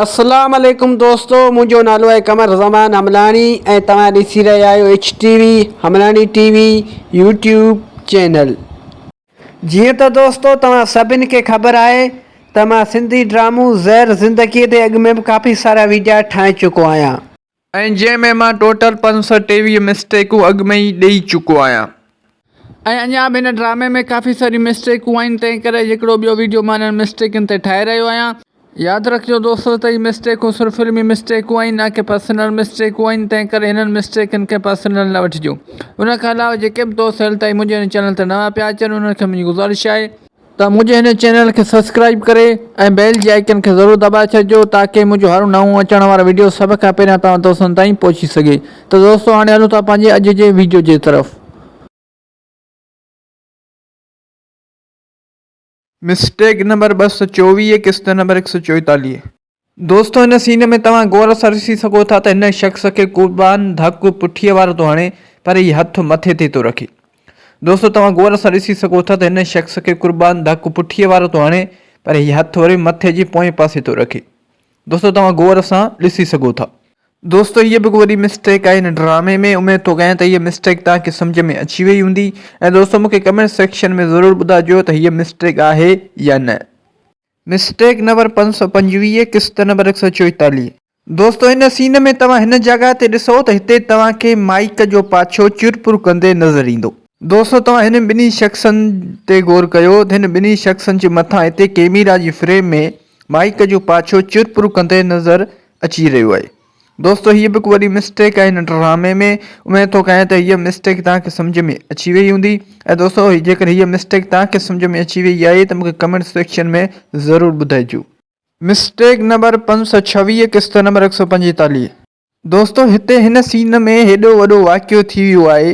اسلام عليڪم دوستو منهنجو نالو آهي قمر زمان حملاڻي ۽ توهان ڏسي رهيا آهيو H T V Hemlani T V YouTube channel جيئن ته دوستو توهان سڀني کي خبر آهي ته مان سنڌي ڊرامو زهر زندگي تي اڳ ۾ به ڪافي سارا ويڊيا ٺاهي چڪو آهيان ۽ جنهن ۾ مان ٽوٽل پنج سؤ ٽيويهه مسٽيڪون اڳ ۾ ئي ڏئي چڪو آهيان. ۽ اڃا به هن ڊرامي ۾ ڪافي ساريون مسٽيڪون آهن تنهن ڪري هڪڙو ٻيو ويڊيو مان انهن مسٽيڪن تي ٺاهي رهيو آهيان. ياد رکجو دوستو ته هي مسٽيڪون صرف فلمي مسٽيڪون آهن نه ڪي پرسنل مسٽيڪون آهن تنهن ڪري هنن مسٽيڪن کي پرسنل نه وٺجو. ان کان علاوه جيڪي به دوست هيل تائين منهنجي هن چينل تي نوان پيا اچن انهن کي منهنجي گذارش آهي. ته منهنجي هن چينل کي سبسڪرائيب ڪري ۽ بيل جي آئيڪن کي ضرور دٻائي ڇڏجو تاڪي منهنجو هر نئون اچڻ وارو ويڊيو سڀ کان پهريان توهان دوستن تائين پهچي سگهي ته دوستو هاڻي هلون ٿا پنهنجي اڄ جي ويڊيو جي طرف. مسٽيڪ نمبر ٻه سؤ چوويهه قسط نمبر هڪ سؤ چوئيتاليهه. دوستو هن سين ۾ توهان غور سان ڏسي سگهو ٿا ته هن شخص کي قربان ڌڪ پٺيء وارو ٿو هڻي پر هي هٿ مٿي تي ٿو رکي. دوستو توهان غور سان ڏسي سگهو ٿا ته هن شخص کي قربان ڌڪ پٺيء وارو ٿو هڻي پر هي هٿ وري مٿي جي پوئين پاسي ٿو رکي. دوستو توهان غور سان ڏسي سگهو ٿا. دوستو هيء به هڪ وڏي مسٽيڪ آهي هن ڊرامي ۾ اميد ٿو ڪيان ته هيء مسٽيڪ توهان کي سمجهه ۾ اچي وئي هوندي ۽ دوستو مون کي ڪمينٽ سيڪشن ۾ ضرور ٻڌائجو ته هيء مسٽيڪ آهي يا نه. مسٽيڪ نمبر پنج سؤ پنجويهه قسط نمبر هڪ سؤ چوئيتاليهه. دوستو ان سين ۾ توهان هن جڳهه تي ڏسو ته هتي توهان کي مائيڪ جو پاڇو چر پور ڪندي نظر ايندو. دوستو توهان هنن ٻنهي شخصن تي غور ڪيو ته هن ٻنهي شخصن جي مٿان هتي ڪيميرا جي فريم ۾ مائيڪ جو پاڇو چر پور ڪندي نظر اچي رهيو آهي. دوستو هيء به ڪو وڏي مسٽيڪ آهي هن ڊرامي ۾، اميد ٿو ڪيان ته هيء مسٽيڪ توهان کي سمجهه ۾ اچي ويئي هوندي ۽ دوستو جيڪڏهن هيء مسٽيڪ توهان کي سمجهه ۾ اچي ويئي آهي ته مون کي ڪمينٽس سيڪشن ۾ ضرور ٻڌائجو. مسٽيڪ نمبر پنج سؤ ڇويهه قسط نمبر هڪ سؤ پنجيتاليهه. دوستو هتي هن سين ۾ هيڏو وڏو واقعو ٿي ويو آهي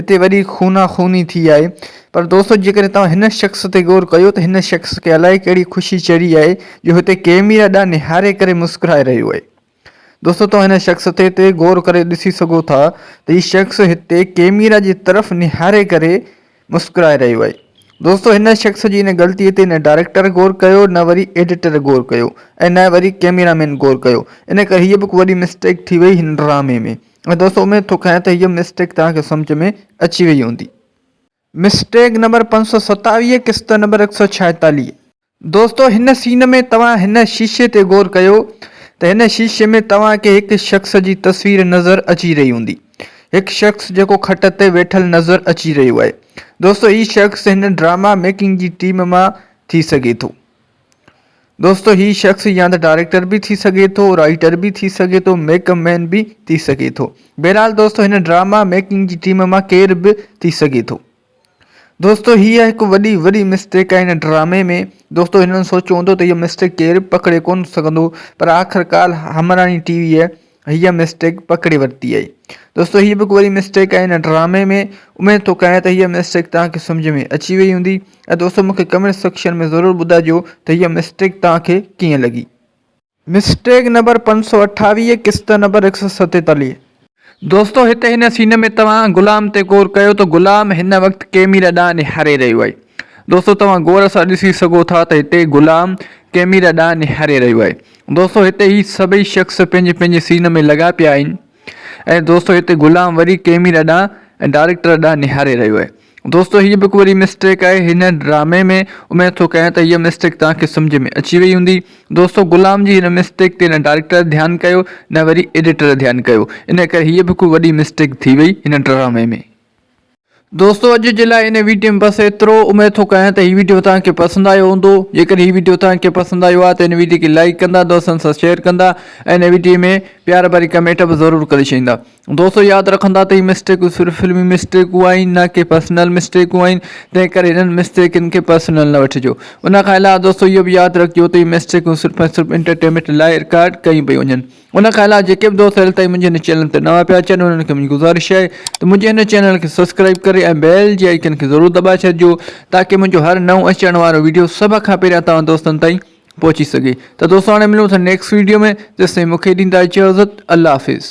اتي وڏي خونا خوني ٿي آهي پر دوستو جيڪڏهن توهان هن شخص تي غور ڪيو ته هن شخص کي الائي ڪهڙي خوشي چڙهي آهي جو هتي ڪيميرا ڏانهن نهاري ڪري مسڪرائي رهيو آهي دوستو توهان هن شخص تي تي غور ڪري ڏسي سگهو ٿا ته هي شخص هتي ڪيميرا جي طرف نهاري ڪري مسڪرائي رهيو آهي دوستو هن شخص جي ان غلطي تي نه ڊائريڪٽر غور ڪيو نه وري ايڊيٽر غور ڪيو ۽ نه وري ڪيميرا مين غور ڪيو ان ڪري هيء به هڪ وڏي مسٽيڪ ٿي وئي هن ڊرامي ۾ ۽ دوست اميد ٿو ڪيان ته هيء مسٽيڪ توهان کي سمجهه ۾ اچي وئي هوندي. مسٽيڪ نمبر پنج سؤ ستاويهه قسط نمبر هڪ سؤ ڇاهيتاليهه. دوستو هن سين ۾ توهان هن شيشي تي غور ڪيو ته هن شيشي ۾ توهان کي هڪ شخص جي تصوير نظر اچي رهي هوندي. هڪ شخص جيڪو کٽ تي ويٺل نظر اچي رهيو آهي. دوستو هي شخص هن ڊراما ميڪنگ جي ٽيم مان ٿي سگهي ٿو. دوستو هي شخص يا ته ڊائريڪٽر به ٿي سگهي ٿو رائيٽر به ٿي سگهي ٿو ميڪ اپ مين به ٿي سگهي ٿو بهرحال دوستو هن ڊراما ميڪنگ جي ٽيم مان ڪير به ٿي سگهي ٿو دوستو هيء هڪ وڏي وڏي مسٽيڪ آهي هن ڊرامي ۾ دوستو هنن سوچيو هوندو ته هيء مسٽيڪ ڪير به پڪڙي ڪونه سگهندو پر آخرڪار همراڻي ٽي ويء هيء مسٽيڪ پڪڙي ورتي آهي. دوستو هيء به ڪو وڏي مسٽيڪ آهي هن ڊرامي ۾ اميد ٿو ڪريان ته هيء مسٽيڪ توهان کي سمجهه ۾ اچي وئي هوندي ۽ دوستو مون کي ڪمينٽ سيڪشن ۾ ضرور ٻڌائجو ته هيء مسٽيڪ توهان کي ڪيئن لڳي. مسٽيڪ نمبر پنج سؤ اٺاويهه قسط نمبر هڪ سؤ ستيتاليهه. دوستو هتي هن سين ۾ توهان غلام تي غور ڪيو ته غلام هن وقت ڪيميرا ڏانهن نهاري رهيو آهي. دوستو توهان غور سان ڏسي سگهو ٿا ته هتي غلام ڪيميرا ڏانهن نهاري رهيو آهي. دوستو هتي هي سڀئي شخص پنهنجي پنهنجي سين ۾ لڳا پيا آهن ۽ دوستو هتي غلام وري ڪيميرا ڏانهن ۽ ڊائريڪٽر ڏانهن نهاري رهيو آهي دوستو هي به هڪ وڏي مسٽيڪ آهي هن ڊرامي ۾ اميد ٿو ڪيان ته هيء مسٽيڪ توهان کي سمجهه ۾ اچي وئي هوندي دوستو غلام جي هن مسٽيڪ تي نه ڊائريڪٽر ڌيان ڪيو نه وري ايڊيٽر ڌيان ڪيو ان ڪري هيء به هڪ وڏي مسٽيڪ ٿي وئي هن ڊرامي ۾ دوستو اڄ جي لاء هن ويڊيو ۾ بس ايترو، اميد ٿو ڪريان ته هي ويڊيو توهان کي پسند آيو هوندو، جيڪڏهن هي ويڊيو توهان کي پسند آيو آهي ته هن ويڊيو کي لائيڪ ڪندا، دوستن سان شيئر ڪندا ۽ هن ويڊيو ۾ پيار ڀري ڪمينٽ به ضرور ڪري ڇڏيندا. دوستو ياد رکندا ته هي مسٽيڪون صرف فلمي مسٽيڪون آهن نه ڪي پرسنل مسٽيڪون آهن تنهن ڪري هنن مسٽيڪن کي پرسنل نه وٺجو ان کان علاوه دوستو اهو به ياد رکجو ته هي مسٽيڪون صرف ۽ صرف انٽرٽينمينٽ لاء رڪارڊ ڪيون پيون وڃن. ان کان علاوه جيڪي به دوست هل تائين منهنجي هن چينل تي نوان پيا اچن انهن کي منهنجي گذارش آهي ته منهنجي هن چينل کي سبسڪرائيب ڪري ۽ بيل جي آئيڪن کي ضرور دٻائي ڇڏجو تاڪه منهنجو هر نئون اچڻ وارو ويڊيو سڀ کان پهريان توهان دوستن تائين پهچي سگهي ته دوستو هاڻي ملون ٿا نيڪسٽ ويڊيو ۾ تيستائين مون کي ڏيندا اجازت الله حافظ